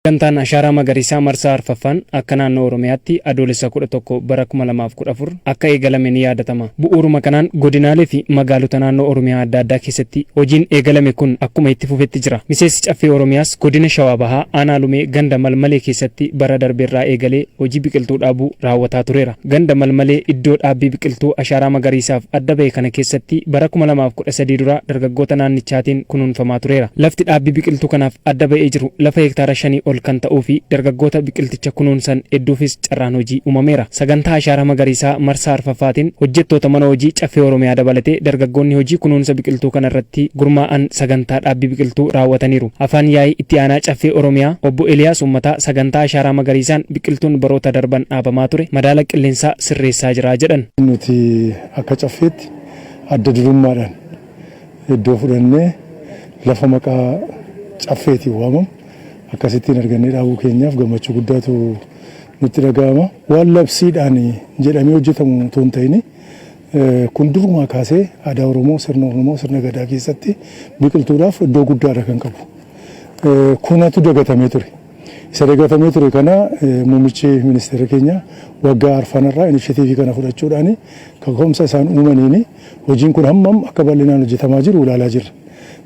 Sagantaan Ashaaraa Magariisaa marsaa arfaffaan akka naannoo Oromiyaatti Adoolessa 11 bara 2014 akka eegalame ni yaadatama. Bu'uuruma kanaan godinaalee fi magaalota naannoo Oromiyaa adda addaa keessatti hojiin eegalame kun akkuma itti fufetti jira. Miseensi Caffee Oromiyaas Godina Shawaa Bahaa Aanaa Lumee Ganda Malmalee keessatti bara darbe irraa eegalee hojii biqiltuu dhaabuu raawwataa tureera. Ganda Malmalee iddoo dhaabbii biqiltuu ashaaraa magariisaaf adda bahe kana keessatti bara 2013 dura dargaggoota naannichaatiin kunuunfamaa tureera. Lafti dhaabbii biqiltuu kanaaf adda ba'ee jiru lafa hektaara shanii ol kan ta'uufi dargaggoota biqilticha kunuunsan hedduufis carraan hojii uumameera. Sagantaa ashaaraa magariisaa marsaa arfaffaatiin hojjettoota mana hojii Caffee Oromiyaa dabalatee dargaggoonni hojii kunuunsa biqiltuu kana irratti gurmaa'an sagantaa dhaabbii biqiltuu raawwataniiru. Afaan yaa'ii itti aanaa Caffee Oromiyaa obbo Eliyaas Uummataa sagantaa ashaaraa magariisaan biqiltuun baroota darban dhaabamaa ture madaala qilleensaa sirreessaa jira jedhan. Nuti akka Caffeetti adda durummaadhaan iddoo fudhannee lafa maqaa Caffeetiin waamamu akkasittiin argannee dhaabuu keenyaaf gammachuu guddaatu nutti dhaga'ama. Waan labsiidhaan jedhamee hojjetamu utuu hin ta'in kun durumaa kaasee aadaa Oromoo, sirna Oromoo, sirna Gadaa keessatti biqiltuudhaaf iddoo guddaadha kan qabu. Kunatu dagatamee ture. Isa dagatamee ture kana muummichi ministeera keenya waggaa arfan irraa inishetiivii kana fudhachuudhaan kaka'umsa isaan uumaniin hojiin kun hammam akka bal'inaan hojjetamaa jiru ilaalaa jirra.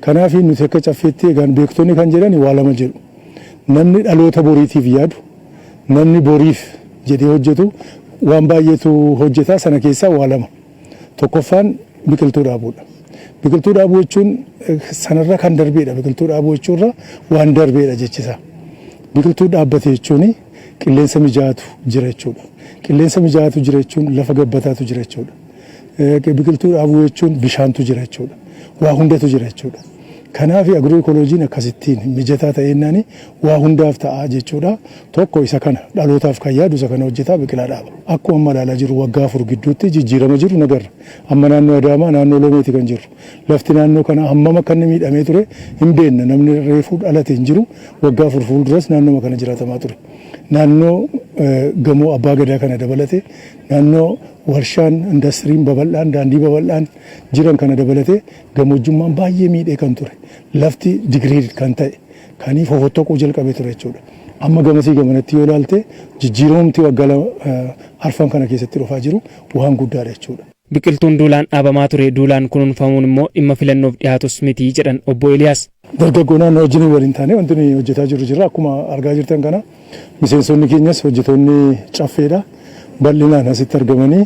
Kanaaf nuti akka Caffeetti egaan beektonni kan jedhan waa lama jedhu. Namni dhaloota boriitiif yaadu, namni boriif jedhee hojjetu waan baay'eetu hojjeta sana keessaa waa lama. Tokkoffaan biqiltuu dhaabuudha. Biqiltuu dhaabuu jechuun sanarra kan darbeedha. Biqiltuu dhaabuu jechuurra waan darbeedha jechi isaa. Biqiltuu dhaabbate jechuun qilleensa mijaa'aatu jira jechuudha. Qilleensa mijaa'aatu jira jechuun lafa gabbataatu jira jechuudha. Biqiltuu dhaabuu jechuun bishaantu jira jechuudha. Waa hundatu jira jechuudha. Kanaafi Agirooekooloojiin akkasittiin mijataa ta'eennaani waa hundaaf ta'a jechuudha. Tokko isa kana. Dhalootaaf kan yaadu isa kana hojjeta, biqilaa dhaaba. Akkuma amma ilaalaa jirru waggaa afur gidduutti jijjiirama jiru nagarra. Amma naannoo Adaamaa naannoo Lomeeti kan jirru. Lafti naannoo kanaa hammam akka inni miidhamee ture hinbeenna. Namni reefuu dhalate hinjiru. Waggaa afur fuulduras naannooma kana jiraatamaa ture. Naannoo gamoo Abbaa Gadaa kana dabalatee, naannoo warshaan, indastiriin babal'aan, daandii babal'aan jiran kana dabalatee, Gamoojjummaan baay'ee miidhee kan ture, lafti degraded kan ta'e, kan fofottoquu jalqabe ture jechuudha. Amma gamasii gamanatti yoo ilaalte jijjiiramumti waggaa lama arfan kana keessatti dhufaa jiru waan guddaadha jechuudha. Biqiltuun duulaan dhaabamaa ture duulaan kunuunfamuun immoo dhimma filannoof dhihaatus miti jedhan Obbo Eeliyaas. Dargaggoo naannoo wajjin waliin taanee wanti nuyi hojjetaa jirru jira. Akkuma argaa jirtan kana miseensonni keenyas hojjetoonni Caffeedha. Bal'inaan asitti argamanii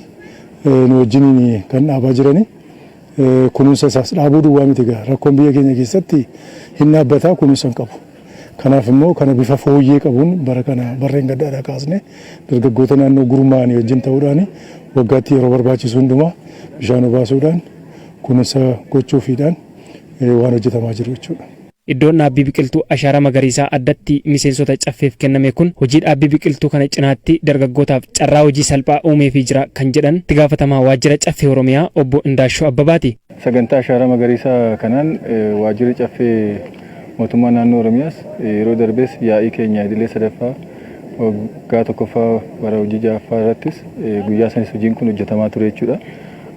nu wajjiniin kan dhaabaa jirani. Kunuunsa isaas dhaabuu duwwaa miti egaa rakkoon biyya keenya keessatti hin dhaabbataa kunuunsa hin qabu. Kanaaf immoo kana bifa fooyyee qabuun bara kana barreen gaddaadhaa kaasne dargaggoota naannoo gurmaa'anii wajjin ta'uudhaan waggaatti yeroo barbaachisu hundumaa bishaan obaasuudhaan kunuunsa gochuufiidhaan waan hojjetamaa jiru jechuudha. Iddoon dhaabbii biqiltuu ashaaraa magariisaa addatti miseensota Caffeef kenname kun hojii dhaabbii biqiltuu kana cinaatti dargaggootaaf carraa hojii salphaa uumeefii jira kan jedhan itti gaafatamaa waajjira Caffee Oromiyaa obbo Indaashoo Abbabaati. Sagantaa ashaaraa magariisaa kanaan waajjirri Caffee mootummaa naannoo Oromiyaas yeroo darbes yaa'ii keenya idilee 3ffaa waggaa 1ffaa bara hojii 6ffaa irrattis guyyaa sanis hojiin kun hojjetamaa ture jechuudha.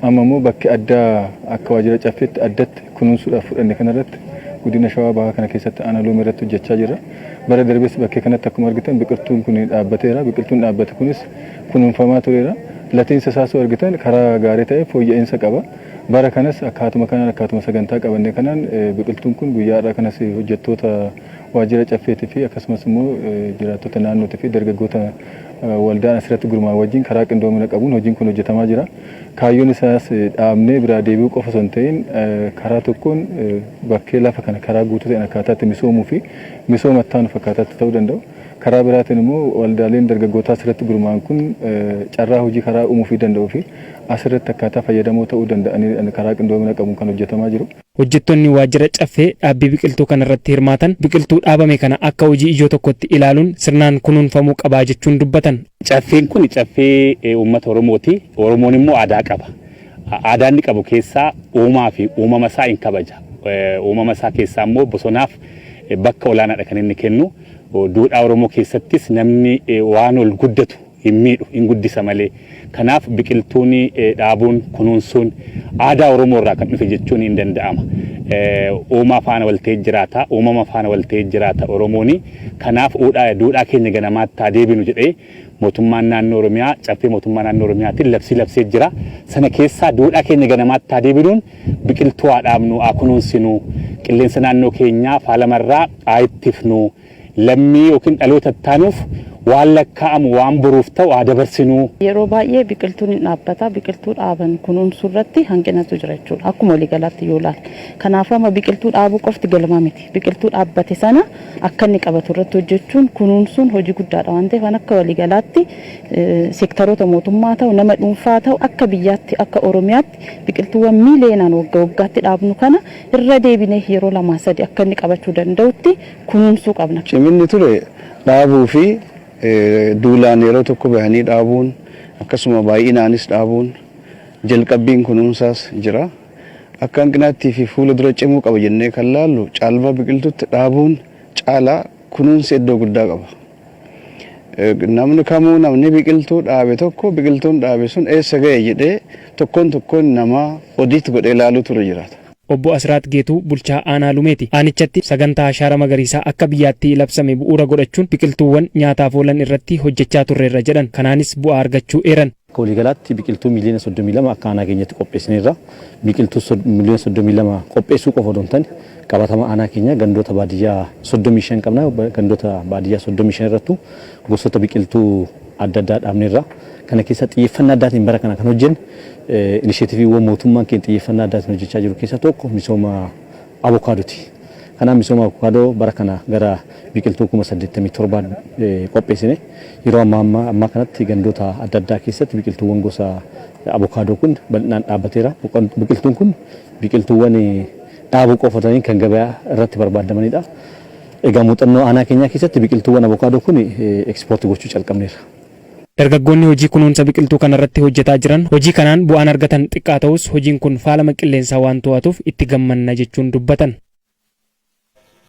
Amma immoo bakki addaa akka waajjira Caffeetti addatti kunuunsuudhaaf fudhanne kanarratti Godina Shawaa Bahaa kana keessatti Aanaa Loomii irratti hojjechaa jirra. Bara darbes bakkee kanatti akkuma argitan biqiltuun kun dhaabbateera. Biqiltuun dhaabbate kunis kunuunfamaa tureera. Latiinsa isaas yoo argitan karaa gaarii ta'een fooyya'insa qaba. Bara kanas akkaatuma kanaan akkaatuma sagantaa qabanne kanaan biqiltuun kun guyyaa har'aa kanas hojjettoota waajjira Caffeetii fi akkasumas immoo jiraattota naannootii fi dargaggoota waldaan asirratti gurmaa'an wajjin karaa qindoomina qabuun hojiin kun hojjetamaa jira. Kaayyoon isaas dhaabnee biraa deebi'uu qofa osoo hin ta'in karaa tokkoon bakkee lafa kana karaa guutuu ta'een akkaataa itti misoomuu fi misooma itti aanuuf akkaataa itti ta'uu danda'u, karaa biraatiin immoo waldaaleen dargaggootaa asirratti gurmaa'an kun carraa hojii karaa uumuufii danda'uu fi asirratti akkaataa fayyadamoo ta'uu danda'aniin karaa qindoomina qabuun kan hojjetamaa jiru. Hojjettonni waajjira Caffee dhaabbii biqiltuu kana irratti hirmaatan biqiltuu dhaabame kana akka hojii ijoo tokkotti ilaaluun sirnaan kunuunfamuu qaba jechuun dubbatan. Caffeen kun caffee uummata Oromooti. Oromoon immoo aadaa qaba. Aadaa inni qabu keessaa uumaa fi uumama isaa in kabaja. Uumama isaa keessaa immoo bosonaaf bakka olaanaadha kan inni kennu. Duudhaa Oromoo keessattis namni waan ol guddatu hin miidhu, in guddisa malee. Kanaaf biqiltuun dhaabuun, kunuunsuun aadaa Oromoo irraa kan dhufe jechuun in danda'ama. Uumaa faana wal ta'ee jiraata, uumama faana wal ta'ee jiraata Oromoon. Kanaaf duudhaa keenya ganamaatti haa deebinu jedhee Mootummaan Naannoo Oromiyaa Caffee Mootummaa Naannoo Oromiyaatiin labsii labsee jira. Sana keessaa duudhaa keenya ganamaatti haa deebinuun biqiltuu haa dhaabnu, haa kunuunsinu, qilleensa naannoo keenyaa faalama irraa haa ittifnu, lammii ykn dhaloota ittaanuuf waan lakkaa'amu waan boruuf ta'u haa dabarsinuu. Yeroo baay'ee biqiltuun hin dhaabbata. Biqiltuu dhaaban kunuunsuu irratti hanqinatu jira jechuudha akkuma walii galaatti yoo ilaalle. Kanaafuu amma biqiltuu dhaabuu qofti galma miti. Biqiltuu dhaabbate sana akka inni qabatu irratti hojjechuun, kunuunsuun hojii guddaadha waan ta'eef an akka walii galaatti sektaroota mootummaa ta'u, nama dhuunfaa ta'u akka biyyaatti akka Oromiyaatti biqiltuuwwan miiliyeenaan wagga waggaatti dhaabnu kana irra deebinee yeroo lamaa sadi akka inni qabachuu danda'utti kunuunsuu qabna. Ciminni ture dhaabuu fi duulaan yeroo tokko bahanii dhaabuun akkasuma baay'inaanis dhaabuun jalqabbiin kunuunsaas jira. Akka hanqinaattii fi fuula dura cimuu qaba jennee kan laallu caalbaa biqiltuutti dhaabuun caalaa kunuunsi iddoo guddaa qaba. Namni kamuu namni biqiltuu dhaabe tokko biqiltuun dhaabe sun eessa ga'e jedhee tokkoon tokkoon namaa odiit godhee laaluutu irra jiraata. Obbo Asiraat Geetuu bulchaa Aanaa Lumeeti. Aanichatti sagantaa Ashaara Magariisaa akka biyyaatti labsame bu'uura godhachuun biqiltuuwwan nyaataaf oolan irratti hojjechaa turreerra jedhan. Kanaanis bu'aa argachuu eeran. Akka waliigalaatti biqiltuu miiliyoona 32 akka aanaa keenyatti qopheessineerra. Biqiltuu miiliyoona 32 qopheessuu qofa odoo hin taane qabatama aanaa keenyaa gandoota baadiyyaa 35 qabna. Gandoota baadiyyaa 35 irrattuu gosoota biqiltuu. adda addaa dhaabneerra. Kana keessaa xiyyeeffannaa addaatiin bara kana kan hojjenne inisheetiviiwwan mootummaan keenya xiyyeeffannaa addaatiin hojjechaa jiru keessaa tokko misooma avokaadooti. Kanaaf misooma avokaadoo bara kana gara biqiltuu kuma 87 qopheessine yeroo ammaa ammaa kanatti gandoota adda addaa keessatti biqiltuuwwan gosa avokaadoo kun bal'inaan dhaabbateera. Biqiltuun kun biqiltuuwwan dhaabuu qofa otoo hin kan gabaa irratti barbaadamanidha. Egaa muuxannoo aanaa keenyaa keessatti biqiltuuwwan avokaadoo kun ekspoorti gochuu calqabneerra. Dargaggoonni hojii kunuunsa biqiltuu kanarratti hojjetaa jiran hojii kanaan bu'aan argatan xiqqaa ta'us hojiin kun faalama qilleensaa waan to'atuuf itti gammanna jechuun dubbatan.